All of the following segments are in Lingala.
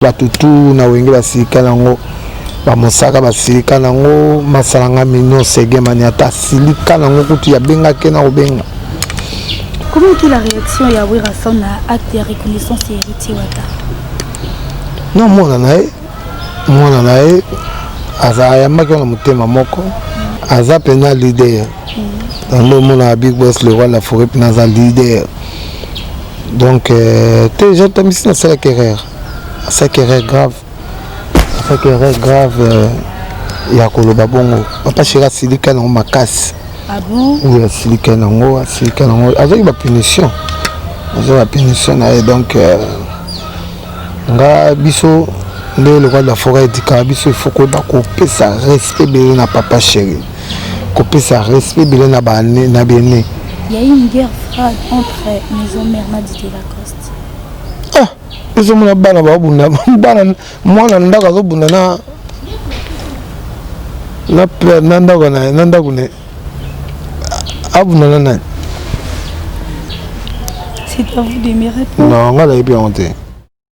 Bato tu na wenge basilika nango bamosaka basilika nango masalanga mignon segemani ata asilika nango kutu yabengaki na kobenga Comment était la réaction ya Werrason na acte ya reconnaissance ya Héritier Wata Non, mwana na ye mwana na ye aza ayambaki wana motema moko aza mpena leader yango mm. omonaka big boss le roi la forêt mpena aza leader Donc, euh, t'es jeune, t'as mis ça, c'est la carrière. C'est la carrière grave. C'est la carrière grave. Euh, ya koloba bongo papa shera asilika nango makasi ah oui asilika nango asilika nango azwaki bapunition azwa bapunition na ye donc euh, nga biso nde lokola la foret edikaka biso ifo koyeba kopesa respect ebele na papa sheri kopesa respect bile na bane na bene il y a une guerre froide entre maison mère na Didier Lacoste ah ezo mona bana ba bunda bana mwana ndako azo bunda na na père na ndako na na ndako ne abunda na nani c'est à vous de me répondre non nga la yebi yango te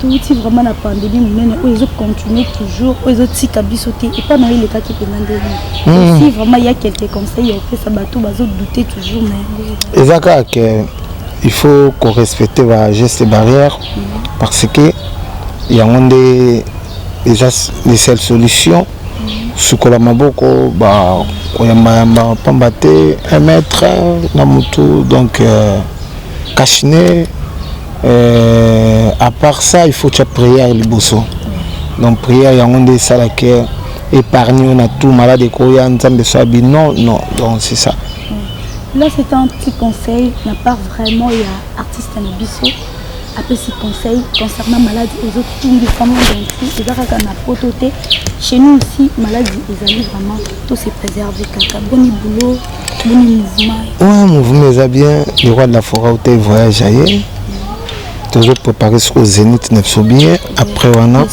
touti vraiment na pandemie monene oyo ezo continuer toujours oyo ezotika biso te epa na yo elekaki mpenza ndenge hmm. si vraiment ya quelque conseil ya opesa bato bazodoute toujours na yango eza kaka ke il faut korespecte bageste barrière hmm. parce que yango nde eza les seules solutions hmm. sukola maboko bakoyambayamba mpamba te un mètre na motu donc euh, Kashine euh, à part ça il faut tia prière liboso donc prière yango nde esalaki épargne yo na tout malade ekoya nzambe so abi non non donc c'est ça mm. là c'est un petit conseil na part vraiment ya artiste na biso apesi conseil concernant maladi ezotungisa monde enti eza kaka na poto te chez nous aussi maladi ezali vraiment To se préserver kaka boni boulot boni mouvement. Ouais mouvement eza bien le roi de la forêt ou voyage aye. tozo prépare sikoyo zénith na biso bien après wana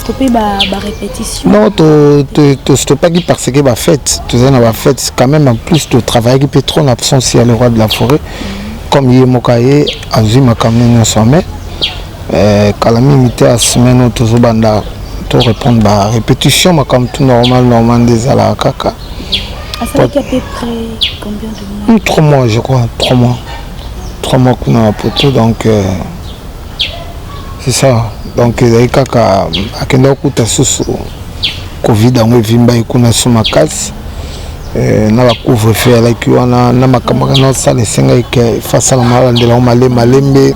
non tostopaki parce que bafete tozali na bafete quand même en plus totravaillaki mpe trop na absence ya le roi de la forêt comme ye moko aye azwi makambo nyonso ame Eh, kala mingi te ya semaine oyo tozobanda to répondre ba répétition makambo tout normal normal nde ezalaka kaka asalaki à peu près combien de mois hmm, trois mois je crois trois mois trois mois kuna na poto donc euh, c'est ça donc ezali kaka akendaki okuta susu covid yango evimbaki kuna so makasi eh, na bacouvre feu alaki wana na makambo kaka naosala esengaki ke fasalama alandela yango malembe malembe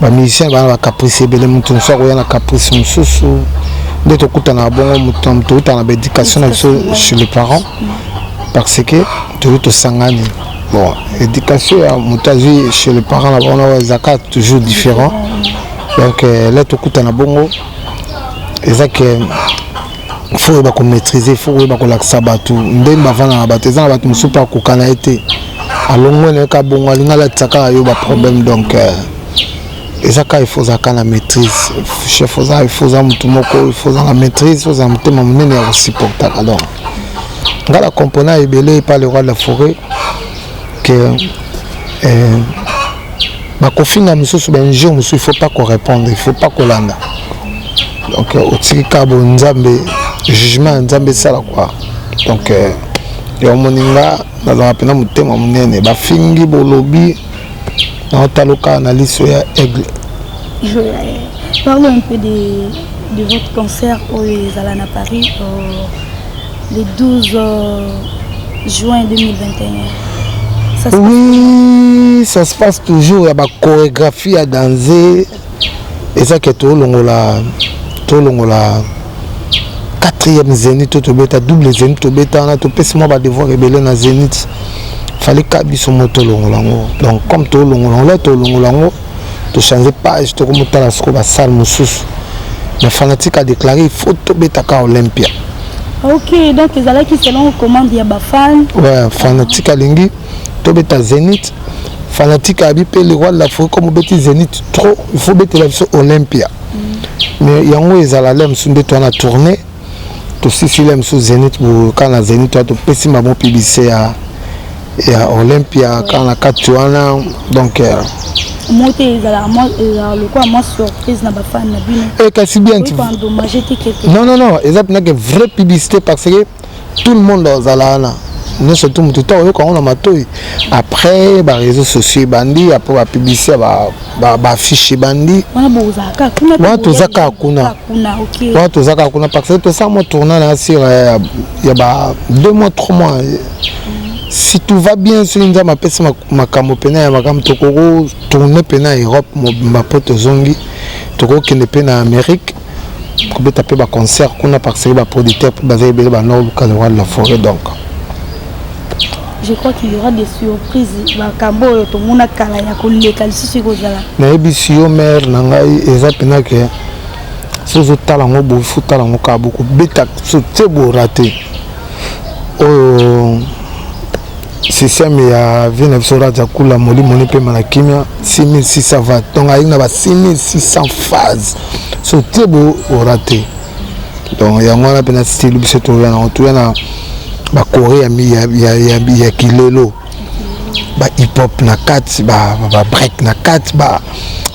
ba musicien bana ba caprice ebele moto mosusu akoya na caprice mosusu nde tokutanaka bongo moto na moto outa na baéducation na biso chez les parents parce que toyo tosangani bon éducation ya moto azwi chez les parents na bango na oyo ezalaka toujours différent donc euh, la tokutana bongo eza ke fo oyeba komaîtrise fo oyeba kolakisa bato ndenge bavanda na bato eza na bato mosusu mpe akokana ye te alongwe na ye ka bongo alingi alatisa kaka yo baproblème donc euh, eza kaka ifo oza kaka na maîtrise chef oza ifo oza motu moko ifo oza na maîtrise oza motema monene ya kosupportaka donc ngai na compona ebele epa le roi de la forêt que euh, bakofinga mosusu bainjure mosusu il faut pas korépondre il faut pas kolanda donc euh, otiki ka bo nzambe jugement ya nzambe esala kua donc euh, yango moni nga nazala mpena motema monene bafingi bolobi naotaloka na liso ya aigle parle un peu de, de votre concert oyo ezala na paris euh, le 12 euh, juin 2021 oui ça se passe toujours ya bachorégraphie ya danze eza ke tolongola tolongola quatrième zénith to tobeta double zénith tobeta wana topesi mwa badevoir ebele na zénith fali ka biso mo tolongola yango donc comme tolongola yango la tolongola yango to changer page toko motala soko ba salle mosusu mais fanatique a déclaré il faut tobetaka olympia ok donc ezalaki selon commande ya bafan ouais, fanatique alingi tobeta zénith fanatique abi mpe le roi de l'afrique comme obeti zénith trop il faut obetela biso olympia mm. mais yango ezala le mosusu nde to wana tourne tosisi lia mosusu zenit boka na zenit wana topesi bango publicité ya ya olympia kaka na kati wana donc euh, mo te ezalaka euh, lokola mwa surprise na bafani na bino eh, kasi bien non non non eza mpenake vraie publicité parce que tout le monde azala wana nyonso tu motu to oyoka yango na matoi après bareseau sociaux ebandi après bapublicité ya ba baaffiche ebandi wana toza kaka kuna wana toza kaka kuna parce que tosala mwa tourna na sur euh, ya ba deux mois trois mois si tout va bien soki nzambe apesi makambo mpena ya makambo tokoki tourne mpena europe mobimba mpo tozongi tokokende mpe na amérique kobeta mpe ba concert kuna parce que ba producteur mpe baza ebele bana oluka le roi de la forêt donc je crois qu'il y aura des surprises makambo oyo tomona kala ya koleka lisusu ekozala nayebisi yo mare na ngai eza mpena ke so ozotala yango boye fo tala yango kaka bokobeta so te borate oyo système ya vie na biso raja kula molimo nipema na kimia 6600 va donc ayei na ba 6600 phase so te bo orate donc yango wana mpena style biso toya nango toya na bakore ya, ya, ya, ya, ya kilelo ba hip hop na kati ba, ba, ba break na kati ba,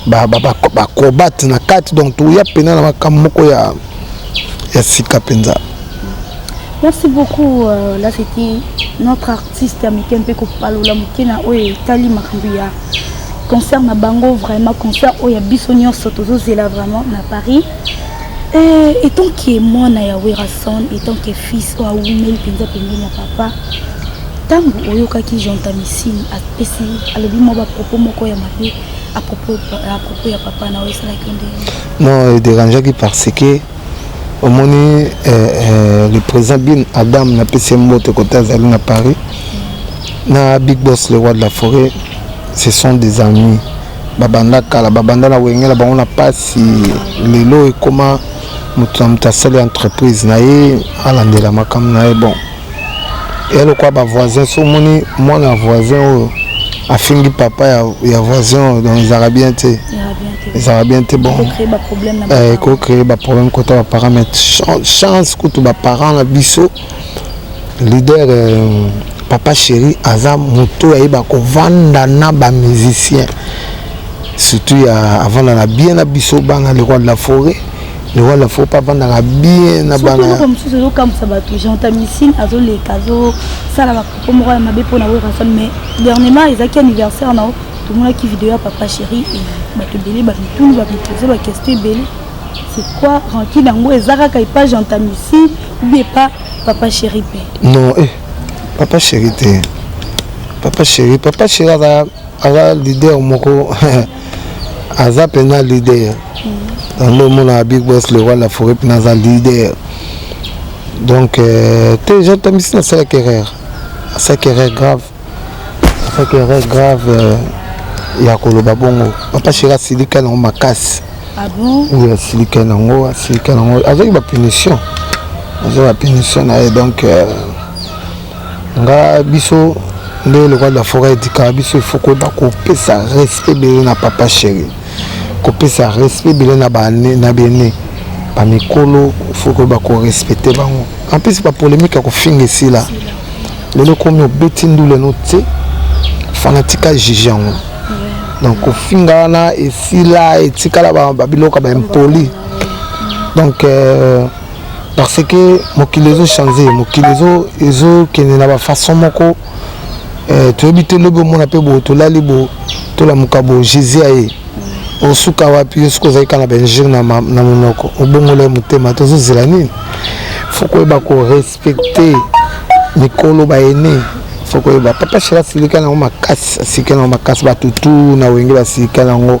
ba, ba, ba, ba acrobate na kati donc toya mpena na makambo moko ya, ya sika mpenza Merci beaucoup euh, là c'était notre artiste ya mike mpe kopalola moke na oyo etali makambo ya concert na bango vraiment concert oyo ya biso nyonso tozozela vraiment na paris euh, etant ke mwana ya werason etant ke fils oyo awumeli mpenza pembeni ya papa ntango oyokaki gentamicine apesi alobi mwa bapropos moko ya mabe apropos ya papa na oyo esalaki nde non ederangeaki parce que omoni eh, eh, le président bin adam napesi ye mbote kote azali na paris na big boss le roi de la forêt ce sont des amis babanda kala babanda na wengela bango na mpasi lelo ekoma moto na moto asali entreprise na ye alandela makambo na ye bon ya lokwa ba voisin so omoni mwana ya voisin oyo afingi papa ya, ya voisin oyo donc ezalaka bien te ezalaka bien te bon ekocree baproblème eh, kota baparent mais chance kutu baparent na biso leader euh, papa chéri aza moto oyo ayeba kovanda na bamusicien surtout ya avanda na bien na biso bana lekwa de la forêt Lokola faut pas vandaka bien na bana. Soko mosusu ezo kambusa bato Jean Tamisine azo leka azo sala ba propos moko ya mabe pona Werrason mais dernièrement ezaki anniversaire na tomonaki video ya papa chéri bato ebele ba mituni ba mipose ba question ebele c'est quoi rancune yango eza kaka epa Jean Tamisine ou bien epa papa chéri pe. Non eh papa chéri te. Papa chéri papa chéri aza aza leader moko aza mpenza leader yango omonaka big boss le roi la forêt mpena aza leader donc euh, te jean tamisi nasalaki erreur asalaki erreur grave asalaki erreur grave euh, ya koloba bongo papa sheri asilika nango makasi ah oui asilika nango asilika nango azwaki bapunition azwaki bapunition na ye donc euh, nga biso nde lokola la foret edikaka biso il faut koyeba kopesa respect ebele na papa chéri kopesa respect ebele na bane na bene bamikolo faut koyeba korespecte bango en plus bapolémique ya kofinga esila lelo komi obeti ndule no te fanatika juge yango donc kofinga wana esila etikala babiloko ba impoli donc euh, parce que mokili ezo change mokili ezo ezo kende na ba façon moko eh, toyebi te lobi omona mpe bo tolali bo tolamuka bo jésus aye osuka wapi yo soki ozali kaka na bainjure na monoko obongola ye motema tozozela nini fo koyeba korespecte mikolo baene fo koyeba papa shela asilika na yango makasi asilika na yango makasi bato tu na wenge basilika na yango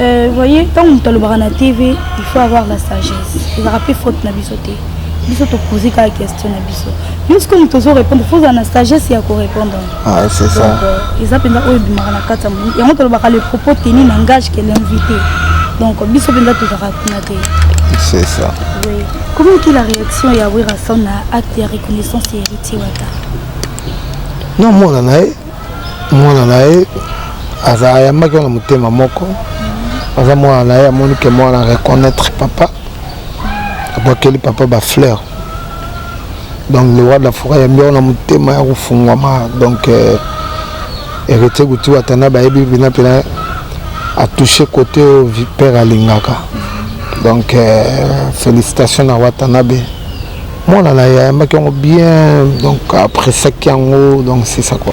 Euh, voyez, ntango moto alobaka na tv il faut avoir la sagesse ezalaka mpe faute na biso te biso topoze kaka question na biso yo sikoyo moto ozorépondre fo ozala na sagesse ya korépondre ah, euh, eza mpenza oyo ebimaka na kati ya moni yango tolobaka le propos tenu na ngage ke l'invité donc biso mpenza tozalaka kuna te c'est ça oui. comment ki la réaction ya werason na acte ya reconnaissance ya héritier wata naomona na ye mwana na ye aza ayambaki wana motema moko aza mwana na ye amoni ke mwana reconnaître papa abwakeli papa bafleur donc le roi de la foret ayambi yango na motema ya kofungwama donc euh, héritier kutu atanda bayebi mpena mpena atouche kote oyo père alingaka donc euh, félicitation na watanabe Mwana na ye ayambaki yango bien donc apresaki yango donc c'est ça quoi.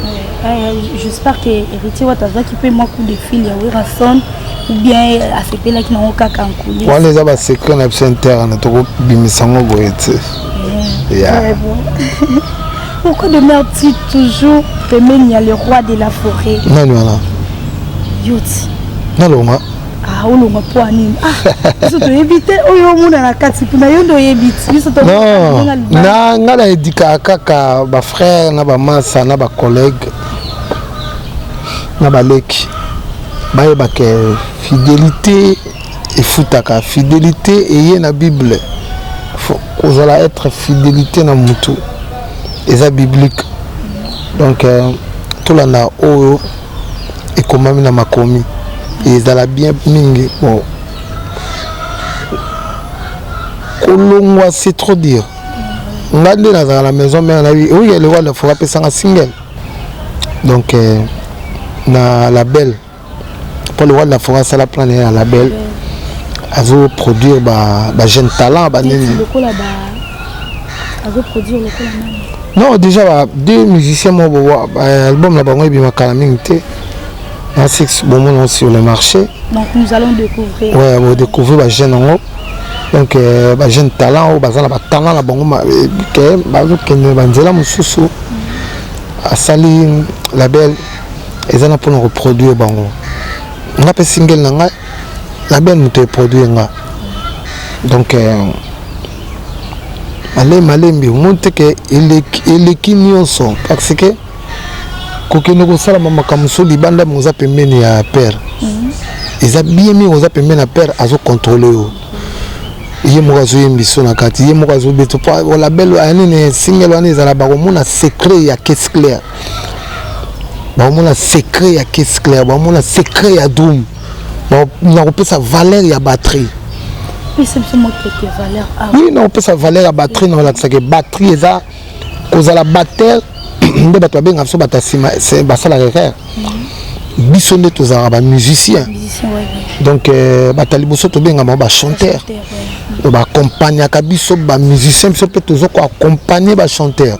Euh, euh, j'espère que héritier wata azwaki mpe mwa coup de fil ya werrason ou bien asepelaki nango kaka nkuli wana eza basecret na biso interne tokobimisa yango boye te pourquoi demeure-t-il toujours pembeni ya le roi de la forêt nani wana yoti nalonga Ah, olongwa mpo ya nini ah, biso toyebi te oyo omona na kati kuna yo nde oyebi ti biso na ngai na edikaka kaka bafrère na bamasa na bacollègue na baleki bayeba ke fidélité efutaka fidélité eye na bible kozala être fidélité na motu eza biblique donc euh, tolanda oyo ekomami na makomi ezala bien mingi bon kolongwa c'est trop dire nga nde nazala na maison mère na ye oyo eleko alefora apesanga single donc euh, na label mpo le roi de la forêt asala plan na ye na label azoproduire bajeune talent banini non déjà ba deux musiciens moko bobo euh, album na bango ebima kala mingi te na six bomona sur le marché donc nous allons découvrir ouais bodécouvrir bajeune yango donc euh, bajeune talent oyo baza na batalent na bango euh, ke bazokende banzela mosusu asali label eza na mpona koproduire bango nga mpe singele na ngai la belle moto eproduire nga donc euh, ale malembi omoni te ke eleki nyonso parce que kokende kosalama makambo mosusu libanda yango oza pembeni ya père mhm. eza bien mingi oza pembeni ya père azokontrole yo ye moko azoyembi so na kati ye moko azobeta po label aya nini single wana ezala bakomona secret ya case claire bakomona secret ya case claire bakomona secret ya drum nakopesa valeur ya batterie oui nakopesa valeur ya batterie nakolakisaka batterie eza kozala batteur nde bato babengaka biso bato ya nsima basalaka erreur mhm. biso nde tozalaka bamusicien donc euh, bato ya liboso tobengaka bango bachanteur baaccompagnaka biso bamusicien biso mpe toza koaccompagne bachanteur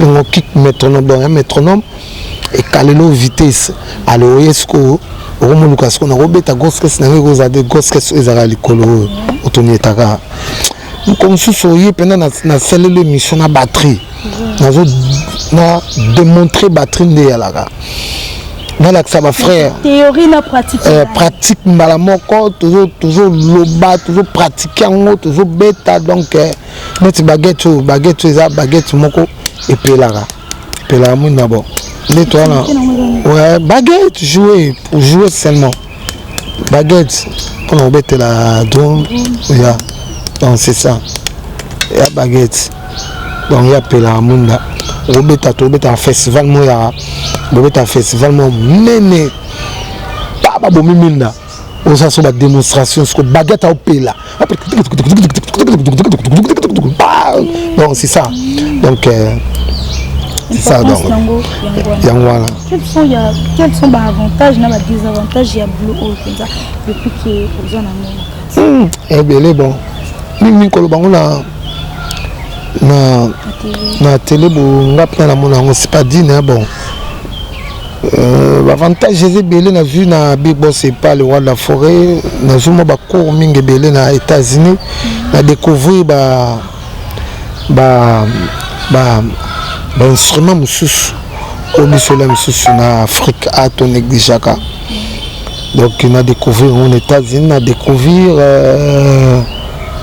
ngo kick métronome donc ya métronome ekalelo vitesse alors oye sikoyo okomoluka sikoyo nakobeta goskes na ngai ekozala de goskes oyo ezalaka likolo oyo otonietaka moko mosusu oye mpena nasaleli émission na batterie nazo na démontrer batterie nde eyalaka nalakisa bafrère euh, pratique mbala moko tozoloba tozopratike yango tozobeta donc euh, neti baguette oyo baguette oyo eza baguette moko epelaka epelaka mwindu na bo neti wana ouais, baguette joue pour jouer seulement baguette mpona kobetela drone ya donc c'est ça ya baguette donc ya pelaka mwinda obeta tobetaka festival moyaka bobetaka festival mo mene pa babomi minda oza so ba demonstration siko baguette aopela donc c'est ça donc euh, c'est ça donc yango wana quels sont baavantage na badesavantage ya boulot oyo mpenza depuis ke oza na ngo hmm, ebele bon mingimingi koloba ngo na na na tele bo nga mpe na namona yango c'est pas dine bon Euh, bavantage eza ebele nazwi na big bos epa le roi de la forêt nazwi mwa bacour mingi ebele na états-unis na découvrir ba ba ba bainstrument mosusu oyo biso ela mosusu na afrique a to négligeaka donc na découvrir yango na états-unis na découvrir euh,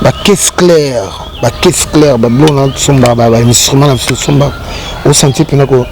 bacaisse claire bacaisse claire babiloko na sombaka bainstrument na biso sombaka osanti mpena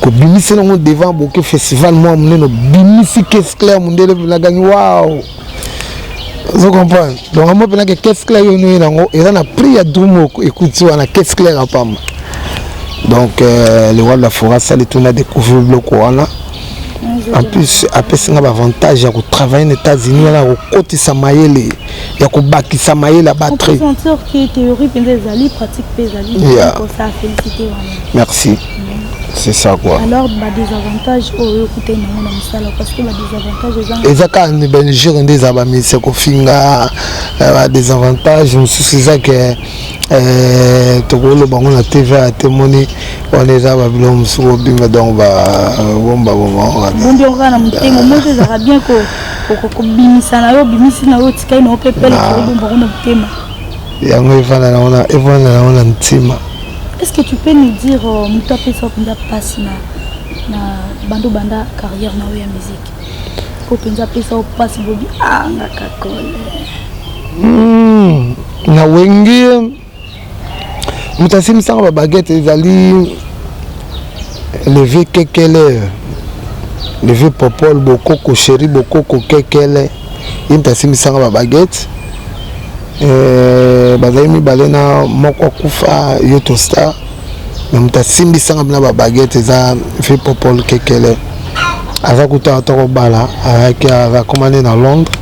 kobimisi nango devant boke festival mwa monene obimisi case claire mondele mpena gangi wao ozo comprendre donc yango mpena ke case claire yo noye nango eza na prix ya dru moko ekuti wana case claire ya pamba donc euh, le roi de la foret asali toni adécouvrir biloko wana en plus apesi nga baavantage ya kotravaille na états-unis wana ya kokotisa mayele ya kobakisa mayele ya batri merci c'est ça quoi alors ba désavantage oyo okutani nango na mosala parce que ba désavantage eza eza kaka nde belgique nde eza bamisi ya kofinga ba désavantage mosusu eza ke Eh, tokoloba yango na tv ya te moni wana eza babilo mosuku obima donc babomba bombaombiokanamotemaomoezaka bien kobimisa na yo obimisi na yo otikai na yo mpe pelekobomba kuna motema yango evanda na wana evanda na wana ntima est ce que tu peux nous dire euh, moto apesa mpenza mpasi na na bando banda carrière na yo ya musique oyo mpenza apesa yo mpasi bobi anga kakole hmm, na wengi moto asimisaka babagete ezali leve kekele leve popol bokoko sheri bokoko kekele ye moto asimisaka babagete eh, bazali mibale na moko akufa yoto star na moto asimbisanga bina babagete eza vieux popol kekele aza kutu ata kobala ayaki akoma nde na londres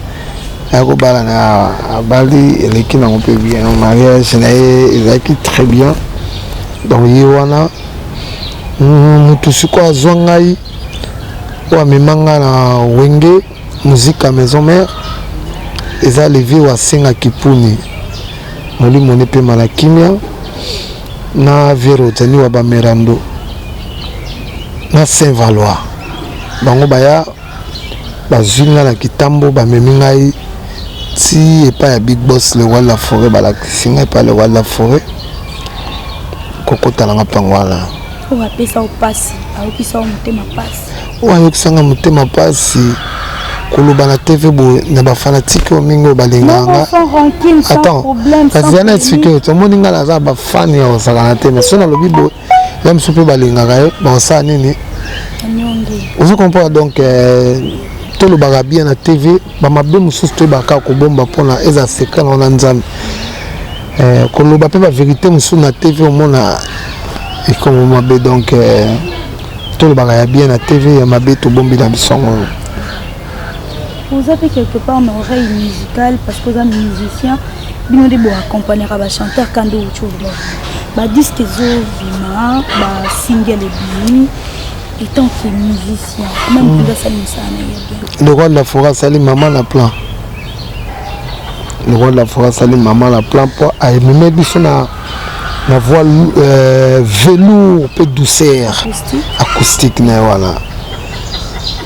aya kobala na abali eleki nango mpe bien mariage na ye ezalaki très bien donc ye wana motu sikoyo azwa ngai oyo amema ngai na wenge Musica maison mère eza le vieux wa senga kipuni molimo ne pema na kimia na vieux Rodani wa bamerando na Saint Valois bango baya bazwi ngai na kitambo bamemi ngai ti epai ya big boss le roi de la forêt balakisi ngai epai le roi de la forêt kokota na nga mpango wana Oyo apesa yo pasi, ayokisa yo motema pasi. Oyo ayokisa nga motema pasi koloba na TV boye na ba fanatiques oyo mingi oyo balingaka nga. Attends, kasi yana explique yo, tomoni nga naza ba fan ya kosaka na te, mais soki nalobi boye, ya mosusu mpe balingaka yo, bakosala nini? Ozo comprendre donc euh, tolobaka bien na TV, ba mabe mosusu toyebaka kobomba mpona eza secret na wana Nzambe. Eh, koloba mpe baverité mosusu na tv omona ekomo mabe donc eh, tolobaka ya bien na tv ya mabe tobombela biso yango oza mpe quelque part na oreille musicale parce que oza musicien bino nde boaccompagnaka bachanteur kando ucova badiske ezobima basingle ebimi etant que musicien meme mpenza asali mosala na ye bien lokola la fora asali mama na plan le roi de la forêt asali mama na plan mpo amemeli biso na na voix euh, velour mpe douceur acoustique na ye wana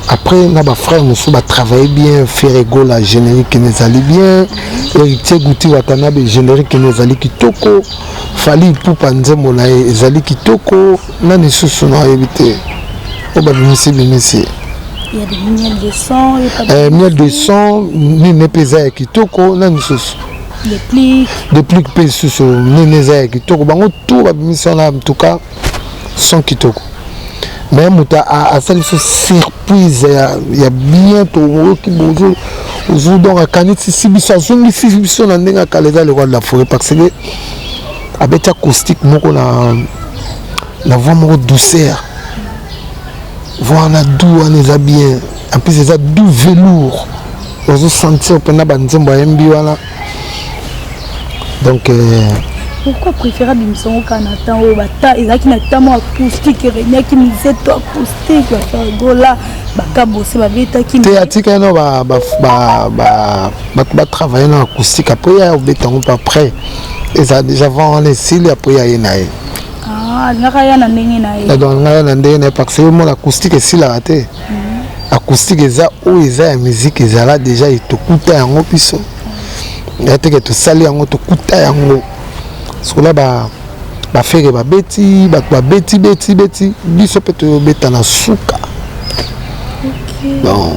après na bafrère mosusu batravaille bien ferregola générique na ezali bien héritier guti watanabe générique na ezali kitoko fali ipupa nzembo na ye ezali kitoko Nani lisusu nayebi te oyo babimisi bimisi miel de son eh, miel de son nini mpe eza ya kitoko nani lisusu deplique mpe lisusu nini eza ya kitoko bango tu babimisi wana mtuka son kitoko me moto asali biso surprise ya, ya bien toyoki bozo ozo donc akanisi si biso azongisi biso na ndenge akala eza lekwala la foret parce que abeti acoustique moko na na voix moko douceur voix wana doux wana eza bien en plus eza doux velour ozo sentir mpena banzembo ayembi wana donc euh, pourquoi préfère abimisa yango kaka na temps oyo bata ezalaki na temps moko acoustique eregnaki mizeto acoustique bafargola bakabose babetaki te atika yano bato batravaille na acoustique apres ya obeta yango mpe après eza deja vent wana esili apres ya ye na ye ah, alingaka ya na ndenge na ye donc alingaka ya na ndenge na ye parce que yo mona acoustique esilaka te mhm. acoustique eza oyo eza ya musique ezala deja etokuta yango biso ya teke tosali yango tokuta yango sikola ba bafere babeti bato babeti beti beti biso mpe toyobeta na suka okay. bon.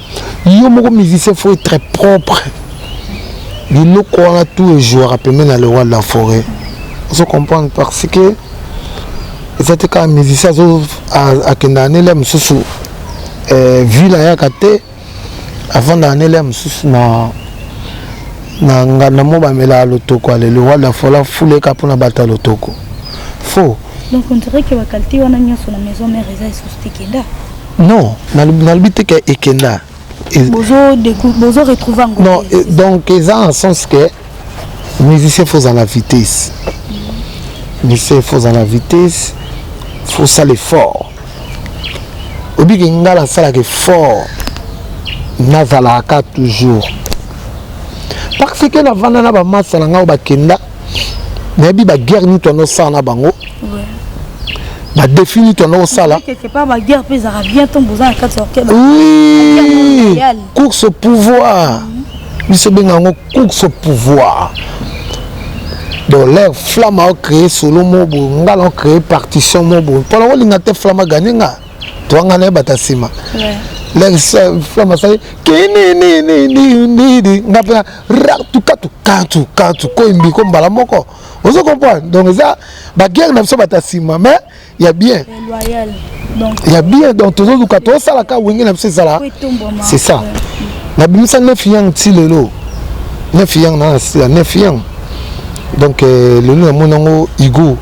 yo moko musicien faut être propre biloko wana tout ejouaka pembe na le roi de la forêt ozo comprendre parce que eza te kaka musicien azo akendaka na elia mosusu eh, ville ayaka te afandaka na elia mosusu na na nganda mo bamelaka lotoko ale le roi de la forêt afuleka mpona bato ya lotoko faux donc on dirait que bakalite wana nyonso na maison mère eza lisusu te kenda Non, nalobi te ke ekenda. Bozo bozo retrouver yango. Non, donc eza en sens que musicien faut en la vitesse. Musicien faut en la vitesse, faut ça l'effort. Obi ke ngala sala ke fort. Nazalaka toujours. Parce que navanda na ba massa na ngai bakenda nayebi ba guerre nini twana osala na bango ba défi nini twana osala course au pouvoir biso obenga yango course au pouvoir donc leur flamme ao créé solo mo boye ngai nao créé partition mo boye mpona olinga te flamme aganye ngai twanga na ye bata nsima flamasai kinininininidi nga mpe ratukatukatukatu koyimbi ko mbala moko ozo comprendre donc eza baguerre na biso bata nsima mais ya bien ya bien donc tozoluka tosalaka wenge na biso ezala c'est ça nabimisa neuf yang ti lelo neuf yang na nasila neuf yang donc euh, lelo namoni yango igo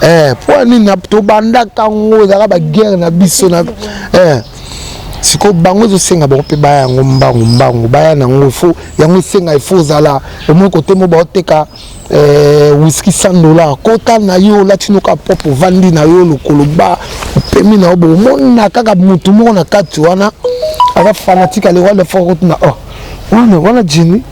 eh, mpo nini tobandaka yango ezalaka baguerre na biso na eh. sikoyo bango ezosenga bango mpe baya yango mbangu mbangu baya na yango fo yango esenga efo ozala omoi kote mo baoteka eh, wiski 100 dollar kota na yo olati noka propre ovandi na yo lokolo ba opemi na yo bokomona kaka motu moko na kati wana aza fanatike alewalefoka kotuna oh wana wana jini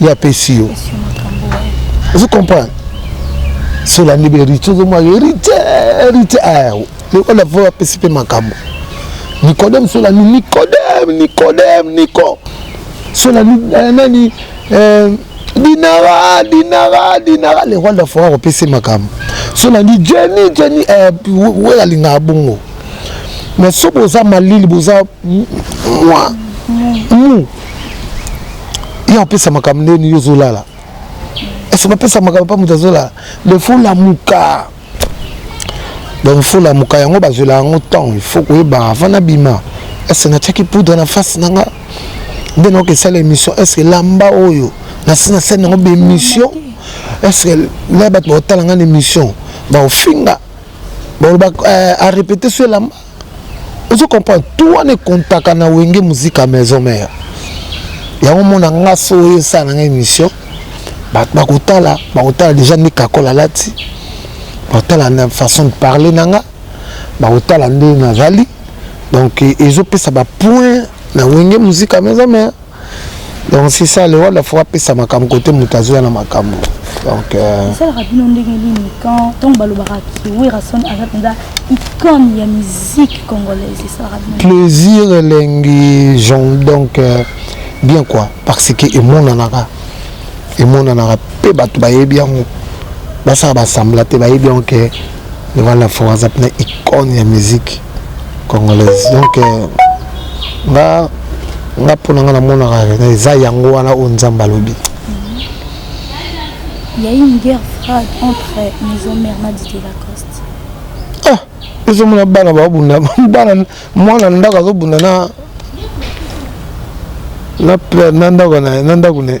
ya pesi yo vous comprenez sola nde berite ozomwa herite herite ayo lokola vo apesi mpe makambo nikodeme sola ni nikodeme nikodeme niko sola eh, nani eh, dinara dinara dinara le roi de la foire akopesi makambo sola ni jeni jeni eh, we alingaka bongo mais so boza malili boza mwa mu ye opesa makambo ndeni yo ozolala ese bapesa makambo mpa moto azolala le fo lamuka donc fo lamuka yango bazwela yango temps ifo koyeba avant nabima ese natiaki poudre na face na nga nde nayoka esala émission estce lamba oyo nasi na sene yango baémission estce na bato baotala nga na émission baofinga balobaka eh, arépéte so elamba ozo comprendre tout wana ekontaka na wenge muzika maison mère yango mona nga so oyo esala na nga émission bato bakotala bakotala déjà nde kakola alati bakotala na façon de parler na nga bakotala nde nazali donc ezopesa bapoint na wenge muzika maison mère donc c'est ça le roi faut apesa makambo kote moto azoya na makambo donc euh, esalaka bino ndenge nini quand ntango balobaka werrason aza mpenza icone ya musique congolaise esalaka bino plaisir elengi jon donc euh, bien quoi parce que emonanaka emonanaka mpe bato bayebi yango basala basambla te bayebi yango ke Devant la foi aza pena icône ya musique congolaise donc euh, nga nga mpo na nga namonaka eza yango wana oyo nzambe alobi Il y a eu une guerre froide entre Maison Mère Nadie et Lacoste. Ah, ils ont bana ba bunda bana mwana ndako azobunda na na na ndako na ndako ne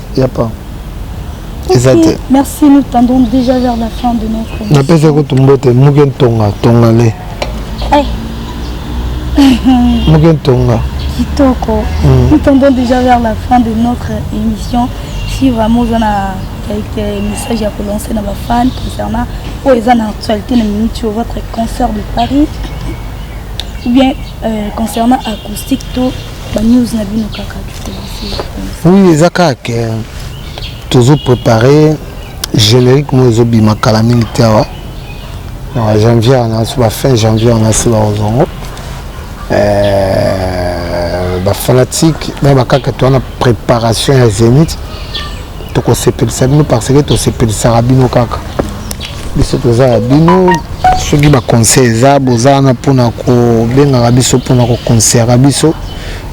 ya pa eza te merci nous tendons déjà vers la fin de notre napesa kutu mbote muke ntonga tonga le eh. muke ntonga kitoko mm. nous tendons déjà vers la fin de notre émission si vraiment oza na quelques messages ya kolancer na bafan concernant oyo eza na actualité na minute oyo votre concert de paris ou bien euh, concernant acoustique to Ba news na bino kaka du plaisir. Oui, eza kaka euh, tozo préparer générique mo ezo bima kala mingi te awa. Na janvier on a sur la fin janvier on a sur la ozongo. Euh, ba fanatique na ba kaka to na préparation ya Zenith. Tokosepelisa bino parce que tosepelisaka bino kaka. biso toza ya bino soki baconseil eza boza wana mpona kobengaka biso mpona koconseillaka biso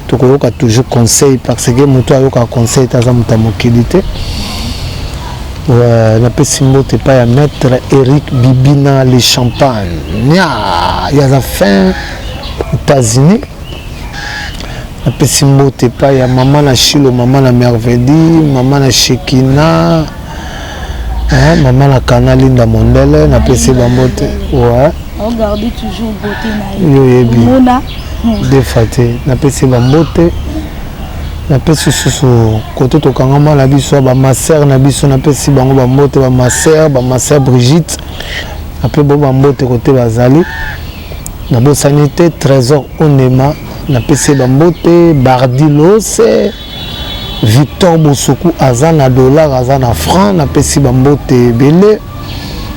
tokoyoka toujours conseil parce que moto ayokaka conseil te aza moto ya mokili te euh, napesi mbote epai ya maître eric bibina le champagne nya ye aza fin états-unis napesi mbote epai ya mama na shilo mama na mervedi mama na shekina Ah, maman la kana linda mondele na pesi ba mbote ouais on garde toujours beauté na ye yo yebi mona hmm. defa te na pesi ba mbote na pesi susu kote tokangama na biso ba master na biso na pesi bango ba mbote ba master ba master Brigitte après bo ba mbote kote bazali na bosani te trésor onema na pesi ba mbote bardilose Victor Bosoku aza na dollar aza na franc napesi bambote ebele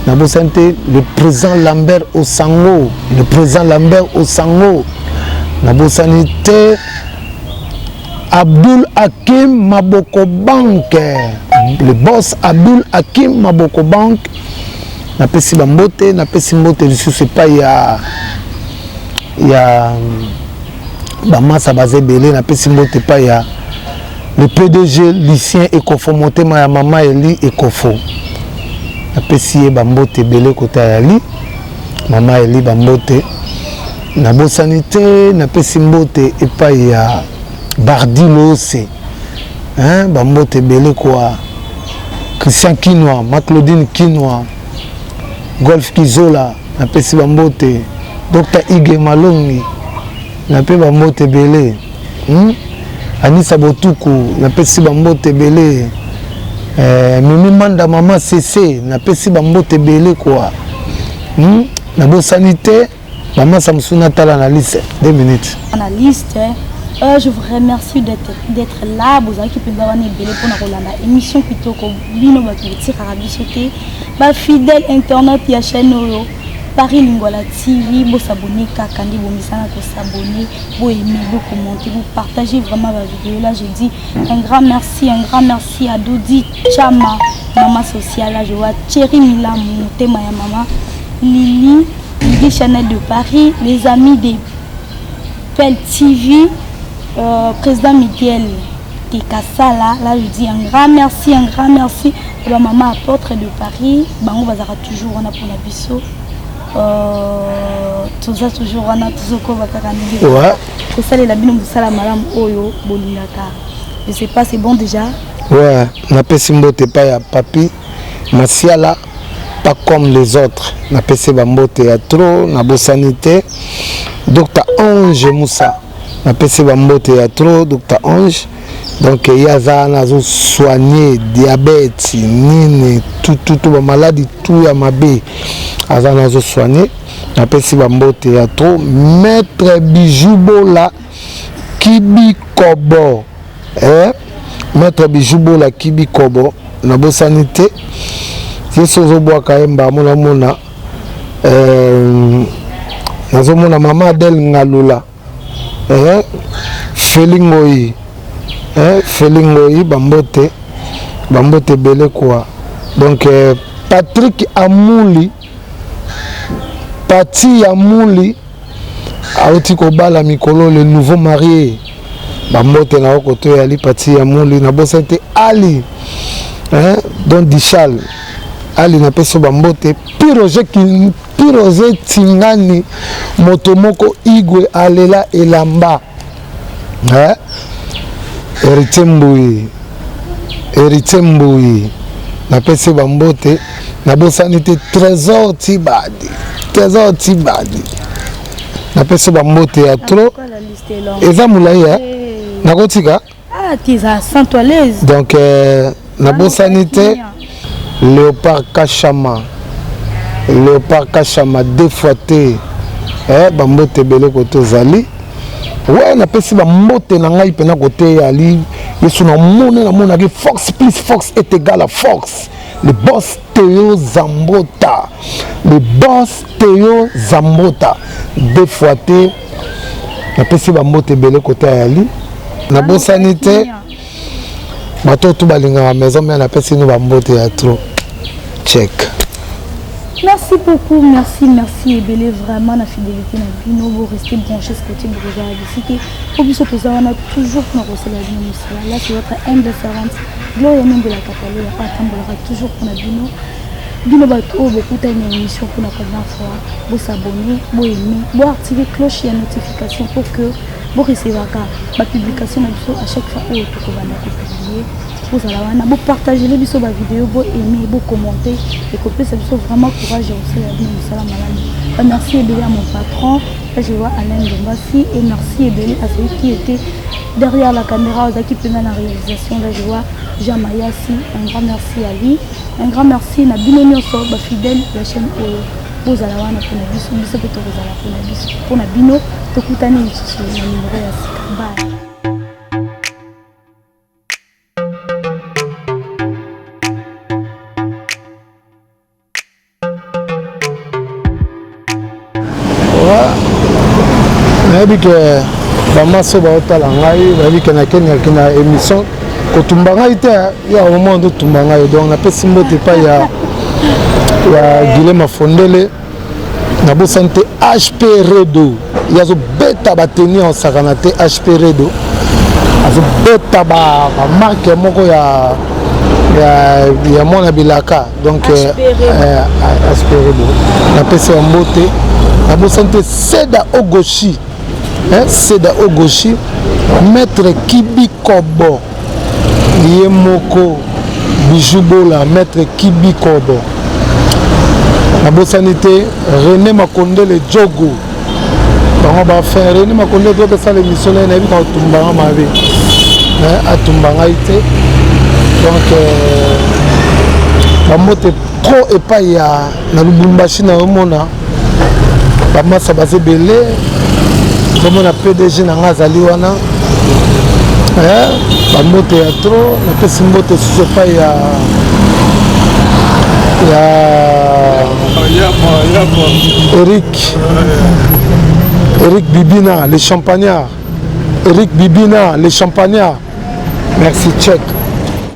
nabosani te le président Lambert Osango le président Lambert Osango nabosani te Abdul Hakim Maboko Bank le boss Abdul Hakim Maboko Bank napesi bambote napesi mbote lisusu epai ya ya bamasa baza ebele napesi mbote epai ya le pdg lucien ekofo motema ya mama eli ekofo napesi ye bambote ebele kota ya li mama eli bambote nabosani te napesi mbote epai ya bardi loose bambote ebele kwa christian kinwa ma claudine kinwa golf kizola napesi bambote Docteur Hugues Malongi na pe ba mbote belé. Hmm? Anissa Botuku na pesi ba mbote belé. Euh, Mimi Manda maman Cessé na pesi ba mbote belé quoi. Hmm? Na bo sanité maman Samson Natala na liste 2 minutes. Na liste Euh, je vous remercie d'être là bozalaki mpenza wana ebele mpona kolanda émission kitoko bino bato botikaka biso te bafidèle internet ya chaîne oyo Paris Lingwala TV, bo s'abonner kaka nde bomisana ko s'abonner, bo aimer, bo commenter, bo partager vraiment ba vidéos là je dis un grand merci, un grand merci à Dodi Chama, maman sociale là je vois Thierry Milam, motema ya maman Lily, Lily Chanel de Paris, les amis des Pel TV, euh, président Miguel Kekasala, là je dis un grand merci, un grand merci à la maman apôtre de Paris, bango bazaka toujours wana pona biso. Euh, toza toujours wana tozokoba kaka ndenge ouais. kosalela bino mosala malamu oyo bolingaka je sais pas c'est bon déjà ouais napesi mbote epai ya papi masiala pas comme les autres napesi bambote ya trop nabosani te dr ange musa napesi bambote ya tro dr ange donc ye aza wana azosoigne diabete nini tututu bamaladi tu ya mabe aza wana azosoigne napesi bambote ya tro maître bijou bola kibikobo eh? maître bijou bola kibikobo nabosani te ye so ozobwaka ye mbamona mona Euh, nazomona mama adel ngalula eh, feli ngoi eh, feli ngoi bambote bambote ebele kua donc eh, patrick amuli pati ya muli auti kobala mikolo le nouveau marie bambote na okoto ya lipati ya muli na bosa te ali hein? don dichal ali napesi bambote piroge piroge tingani moto moko igwe alela elamba eh? Heritier Mbuyi Heritier Mbuyi napesi bambote nabosani te trésor tibadi trésor tibadi napesi bambote ya trop eza molai ya nakotika ah, donc euh, nabosani te leopard kashama leopard kashama deux fois te eh, bambote ebele kote ozali we napesi bambote na ngai mpena kote yali yesu namoni namonaki force plus force est égal à force le boss teo zambota le boss teo zambota deux fois te napesi bambote ebele kote ayali nabosani te bato tu balingaka maison mère napesi no bambote ya trop check merci beaucoup merci merci ebele vraiment na fidélité na bino boreste branché scoti brigade esike po biso toza wana toujours mpona kosala bino mosala là c'est votre humble servante gloria nembela katalola atambolaka toujours mpona bino bino bato oyo bokutani na émission mpona première fois bosabonne boyeme boactive cloche ya notification pour que Bo recevaka ba publication na biso à chaque fois oyo toko banda ko publier. Bozala wana bo partager les biso ba vidéos, bo aimer, bo commenter et ko pesa biso vraiment courage au sala bino musala malamu. Ba merci ebele à mon patron, là je vois Alain Ndombasi et merci ebele à celui qui était derrière la caméra, aux qui pendant la réalisation là je vois Jean Mayasi, un grand merci à lui. Un grand merci na bino nyoso ba fidèles de la chaîne Oyo. bozala wana mpo na biso biso mpe tokozala mpo na biso mpo na bino tokutani lisusu na nimero ya sika bye nayebi ke bamaso baotala ngai bayebi ke nakendaki na émission kotumba ngai te ya omoma nde otumba ngai donc napesi mbote epai ya ya guilema fondele nabosani te hp redo ye azobeta bateni ya osakana te hp redo azobeta bamarke moko ya ya, ya mwana bilaka donc aspere bo napesi ya mbote nabosani te seda ogoshi eh, seda ogoshi maître kibikobo ye moko bijou bola maître kibikobo nabosani te rené makondele jogo bango bafin rené makondele jogo esala émission naye nayebi ka kotumba nga mabe eh, atumba ngai te donc euh, bambote trop epai ya na lubumbashi na omona bamasa baza ebele komona pdg na ngai azali wana eh, bambote ya tro napesi mbote susu epai ya ya eric eric bibina le champagnard eric bibina le champagnard merci check